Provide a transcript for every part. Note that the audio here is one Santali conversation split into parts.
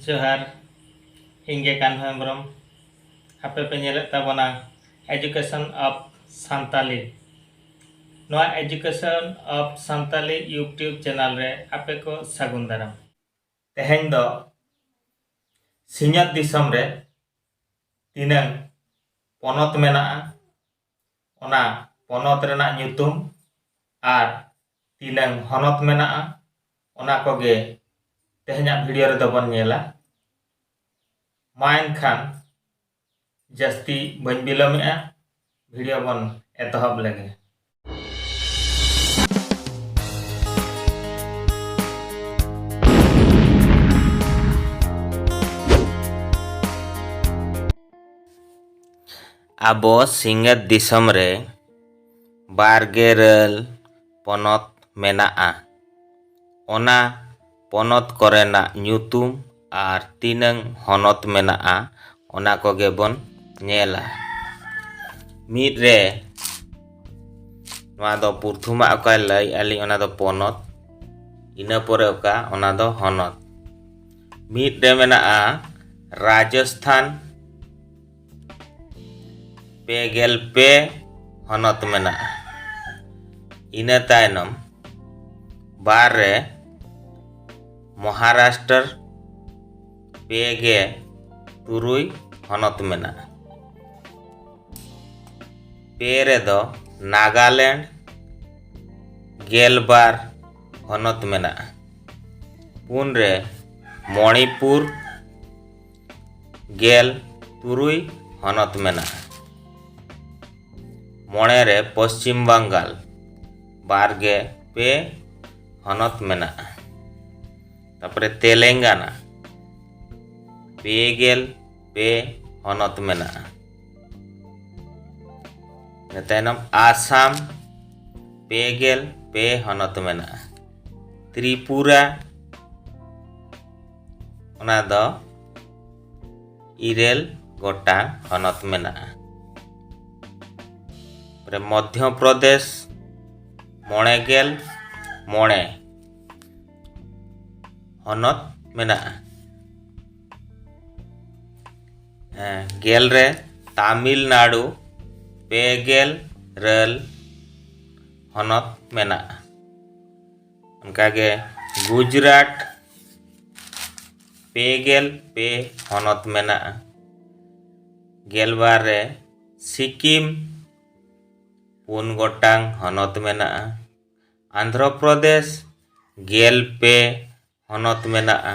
ᱡᱚᱦᱟᱨ ᱤᱧ ᱜᱮ ᱠᱟᱱᱦᱚ ᱦᱮᱢᱵᱨᱚᱢ ᱟᱯᱮ ᱯᱮ ᱧᱮᱞᱮᱫ ᱛᱟᱵᱚᱱᱟ ᱮᱡᱩᱠᱮᱥᱚᱱ ᱚᱯᱷ ᱥᱟᱱᱛᱟᱞᱤ ᱱᱚᱣᱟ education of Santali YouTube channel ᱨᱮ ᱟᱯᱮ ᱠᱚ ᱥᱟᱹᱜᱩᱱ ᱫᱟᱨᱟᱢ ᱛᱮᱦᱮᱧ ᱫᱚ ᱥᱤᱧᱚᱛ ᱫᱤᱥᱚᱢ ᱨᱮ ᱛᱤᱱᱟᱹᱝ ᱯᱚᱱᱚᱛ ᱢᱮᱱᱟᱜᱼᱟ ᱚᱱᱟ ᱯᱚᱱᱚᱛ ᱨᱮᱱᱟᱜ ᱧᱩᱛᱩᱢ ᱟᱨ ᱛᱤᱱᱟᱹᱝ ᱦᱚᱱᱚᱛ ᱢᱮᱱᱟᱜᱼᱟ ᱚᱱᱟ ᱠᱚᱜᱮ ᱛᱮᱦᱮᱧᱟᱜ ᱵᱷᱤᱰᱤᱭᱳ ᱨᱮᱫᱚ ᱵᱚᱱ ᱧᱮᱞᱟ ᱢᱟ ᱮᱱᱠᱷᱟᱱ ᱡᱟᱹᱥᱛᱤ ᱵᱟᱹᱧ ᱵᱤᱞᱚᱢᱮᱜᱼᱟ ᱵᱷᱤᱰᱤᱭᱳ ᱵᱚᱱ ᱮᱛᱚᱦᱚᱵ ᱞᱮᱜᱮ ᱟᱵᱚ ᱥᱤᱧᱚᱛ ᱫᱤᱥᱚᱢ ᱨᱮ ᱵᱟᱨ ᱜᱮᱞ ᱯᱚᱱᱚᱛ ᱢᱮᱱᱟᱜᱼᱟ ᱚᱱᱟ ᱯᱚᱱᱚᱛ ᱠᱚᱨᱮᱱᱟᱜ ᱧᱩᱛᱩᱢ ᱟᱨ ᱛᱤᱱᱟᱹᱝ ᱦᱚᱱᱚᱛ ᱢᱮᱱᱟᱜᱼᱟ ᱚᱱᱟ ᱠᱚᱜᱮ ᱵᱚᱱ ᱧᱮᱞᱟ ᱢᱤᱫ ᱨᱮ ᱱᱚᱣᱟ ᱫᱚ ᱯᱨᱚᱛᱷᱚᱢᱟᱜ ᱚᱠᱟᱭ ᱞᱟᱹᱭ ᱟᱹᱞᱤᱧ ᱚᱱᱟ ᱫᱚ ᱯᱚᱱᱚᱛ ᱤᱱᱟᱹ ᱯᱚᱨᱮ ᱚᱠᱟ ᱚᱱᱟ ᱫᱚ ᱦᱚᱱᱚᱛ ᱢᱤᱫ ᱨᱮ ᱢᱮᱱᱟᱜᱼᱟ ᱨᱟᱡᱚᱥᱛᱷᱟᱱ ᱯᱮ ᱜᱮᱞ ᱯᱮ ᱦᱚᱱᱚᱛ ᱢᱮᱱᱟᱜᱼᱟ ᱤᱱᱟᱹ ᱛᱟᱭᱱᱚᱢ ᱵᱟᱨ ᱨᱮ ᱢᱚᱦᱟᱨᱟᱥᱴᱨ ᱯᱮ ᱜᱮ ᱛᱩᱨᱩᱭ ᱦᱚᱱᱚᱛ ᱢᱮᱱᱟᱜᱼᱟ ᱯᱮ ᱨᱮᱫᱚ ᱱᱟᱜᱟᱞᱮᱱᱰ ᱜᱮᱞᱵᱟᱨ ᱦᱚᱱᱚᱛ ᱢᱮᱱᱟᱜᱼᱟ ᱯᱩᱱ ᱨᱮ ᱢᱚᱬᱤᱯᱩᱨ ᱜᱮᱞ ᱛᱩᱨᱩᱭ ᱦᱚᱱᱚᱛ ᱢᱮᱱᱟᱜᱼᱟ ᱢᱚᱬᱮ ᱨᱮ ᱯᱚᱥᱪᱤᱢ ᱵᱟᱝᱜᱟᱞ ᱵᱟᱨ ᱜᱮ ᱯᱮ ᱦᱚᱱᱚᱛ ᱢᱮᱱᱟᱜᱼᱟ ᱛᱟᱯᱚᱨᱮ ᱛᱮᱞᱮᱝᱜᱟᱱᱟ ᱯᱮ ᱜᱮᱞ ᱯᱮ ᱦᱚᱱᱚᱛ ᱢᱮᱱᱟᱜᱼᱟ ᱤᱱᱟᱹ ᱛᱟᱭᱱᱚᱢ ᱟᱥᱟᱢ ᱯᱮ ᱜᱮᱞ ᱯᱮ ᱦᱚᱱᱚᱛ ᱢᱮᱱᱟᱜᱼᱟ ᱛᱨᱤᱯᱩᱨᱟ ᱚᱱᱟ ᱫᱚ ᱤᱨᱟᱹᱞ ᱜᱚᱴᱟᱝ ᱦᱚᱱᱚᱛ ᱢᱮᱱᱟᱜᱼᱟ ᱢᱚᱫᱷᱭᱚ ᱯᱨᱚᱫᱮᱥ ᱢᱚᱬᱮ ᱜᱮᱞ ᱢᱚᱬᱮ ᱦᱚᱱᱚᱛ ᱢᱮᱱᱟᱜᱼᱟ ᱜᱮᱞ ᱨᱮ ᱛᱟᱢᱤᱞᱱᱟᱲᱩ ᱯᱮ ᱜᱮᱞ ᱨᱟᱹᱞ ᱦᱚᱱᱚᱛ ᱢᱮᱱᱟᱜᱼᱟ ᱚᱱᱠᱟᱜᱮ ᱜᱩᱡᱽᱨᱟᱴ ᱯᱮ ᱜᱮᱞ ᱯᱮ ᱦᱚᱱᱚᱛ ᱢᱮᱱᱟᱜᱼᱟ ᱜᱮᱞᱵᱟᱨ ᱨᱮ ᱥᱤᱠᱤᱢ ᱯᱩᱱ ᱜᱚᱴᱟᱝ ᱦᱚᱱᱚᱛ ᱢᱮᱱᱟᱜᱼᱟ ᱟᱱᱫᱷᱨᱚ ᱯᱨᱚᱫᱮᱥ ᱜᱮᱞ ᱯᱮ ᱦᱚᱱᱚᱛ ᱢᱮᱱᱟᱜᱼᱟ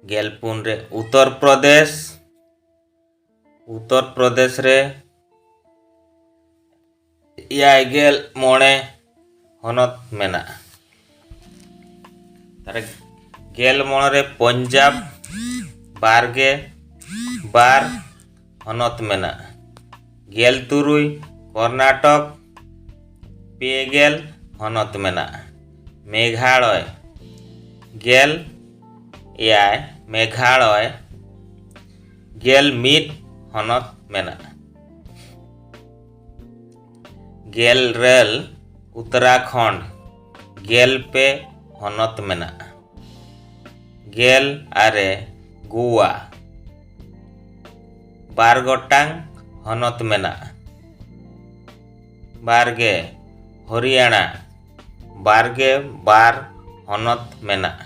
ᱜᱮᱞ ᱯᱩᱱ ᱨᱮ ᱩᱛᱛᱚᱨ ᱯᱨᱚᱫᱮᱥ ᱩᱛᱛᱚᱨ ᱯᱨᱚᱫᱮᱥ ᱨᱮ ᱮᱭᱟᱭ ᱜᱮᱞ ᱢᱚᱬᱮ ᱦᱚᱱᱚᱛ ᱢᱮᱱᱟᱜᱼᱟ ᱛᱟᱦᱚᱞᱮ ᱜᱮᱞ ᱢᱚᱬᱮ ᱨᱮ ᱯᱚᱧᱡᱟᱵᱽ ᱵᱟᱨ ᱜᱮ ᱵᱟᱨ ᱦᱚᱱᱚᱛ ᱢᱮᱱᱟᱜᱼᱟ ᱜᱮᱞ ᱛᱩᱨᱩᱭ ᱠᱚᱨᱱᱟᱴᱚᱠ ᱯᱮ ᱜᱮᱞ ᱦᱚᱱᱚᱛ ᱢᱮᱱᱟᱜᱼᱟ ᱢᱮᱜᱷᱟᱲᱚᱭ ᱜᱮᱞ ᱮᱭᱟᱭ ᱢᱮᱜᱷᱟᱲᱚᱭ ᱜᱮᱞ ᱢᱤᱫ ᱦᱚᱱᱚᱛ ᱢᱮᱱᱟᱜᱼᱟ ᱜᱮᱞ ᱨᱮᱞ ᱩᱛᱛᱚᱨᱟᱠᱷᱚᱸᱰ ᱜᱮᱞ ᱯᱮ ᱦᱚᱱᱚᱛ ᱢᱮᱱᱟᱜᱼᱟ ᱜᱮᱞ ᱟᱨᱮ ᱜᱳᱣᱟ ᱵᱟᱨ ᱜᱚᱴᱟᱝ ᱦᱚᱱᱚᱛ ᱢᱮᱱᱟᱜᱼᱟ ᱵᱟᱨᱜᱮ ᱦᱚᱨᱤᱭᱟᱱᱟ ᱵᱟᱨᱜᱮ ᱵᱟᱨ ᱦᱚᱱᱚᱛ ᱢᱮᱱᱟᱜᱼᱟ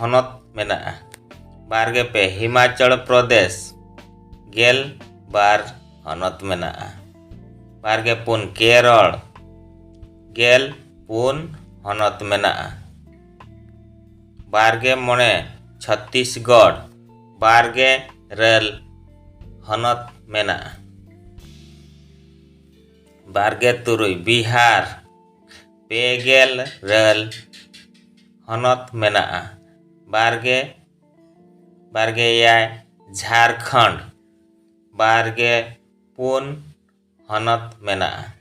ᱦᱚᱱᱚᱛ ᱢᱮᱱᱟᱜᱼᱟ ᱵᱟᱨ ᱜᱮ ᱯᱮ ᱦᱤᱢᱟᱪᱚᱞ ᱯᱨᱚᱫᱮᱥ ᱜᱮᱞ ᱵᱟᱨ ᱦᱚᱱᱚᱛ ᱢᱮᱱᱟᱜᱼᱟ ᱵᱟᱨ ᱜᱮ ᱯᱩᱱ ᱠᱮᱨᱚᱞ ᱜᱮᱞ ᱯᱩᱱ ᱦᱚᱱᱚᱛ ᱢᱮᱱᱟᱜᱼᱟ ᱵᱟᱨ ᱜᱮ ᱢᱚᱬᱮ ᱪᱷᱚᱛᱛᱤᱥᱜᱚᱲ ᱵᱟᱨ ᱜᱮ ᱨᱮᱞ ᱦᱚᱱᱚᱛ ᱢᱮᱱᱟᱜᱼᱟ ᱵᱟᱨ ᱜᱮ ᱛᱩᱨᱩᱭ ᱵᱤᱦᱟᱨ ᱯᱮ ᱜᱮᱞ ᱨᱮᱞ ᱦᱚᱱᱚᱛ ᱢᱮᱱᱟᱜᱼᱟ ᱵᱟᱨᱜᱮ ᱵᱟᱨᱜᱮ ᱮᱭᱟᱭ ᱡᱷᱟᱲᱠᱷᱚᱸᱰ ᱵᱟᱨᱜᱮ ᱯᱩᱱ ᱦᱚᱱᱚᱛ ᱢᱮᱱᱟᱜᱼᱟ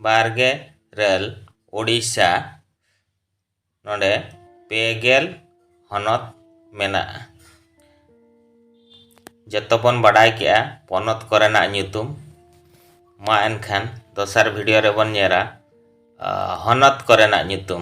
ᱵᱟᱨᱜᱮ ᱤᱨᱟᱹᱞ ᱳᱰᱤᱥᱟ ᱱᱚᱸᱰᱮ ᱯᱮ ᱜᱮᱞ ᱦᱚᱱᱚᱛ ᱢᱮᱱᱟᱜᱼᱟ ᱡᱚᱛᱚ ᱵᱚᱱ ᱵᱟᱰᱟᱭ ᱠᱮᱜᱼᱟ ᱯᱚᱱᱚᱛ ᱠᱚᱨᱮᱱᱟᱜ ᱧᱩᱛᱩᱢ ᱢᱟ ᱮᱱᱠᱷᱟᱱ ᱫᱚᱥᱟᱨ ᱵᱷᱤᱰᱤᱭᱳ ᱨᱮᱵᱚᱱ ᱧᱮᱞᱟ ᱦᱚᱱᱚᱛ ᱠᱚᱨᱮᱱᱟᱜ ᱧᱩᱛᱩᱢ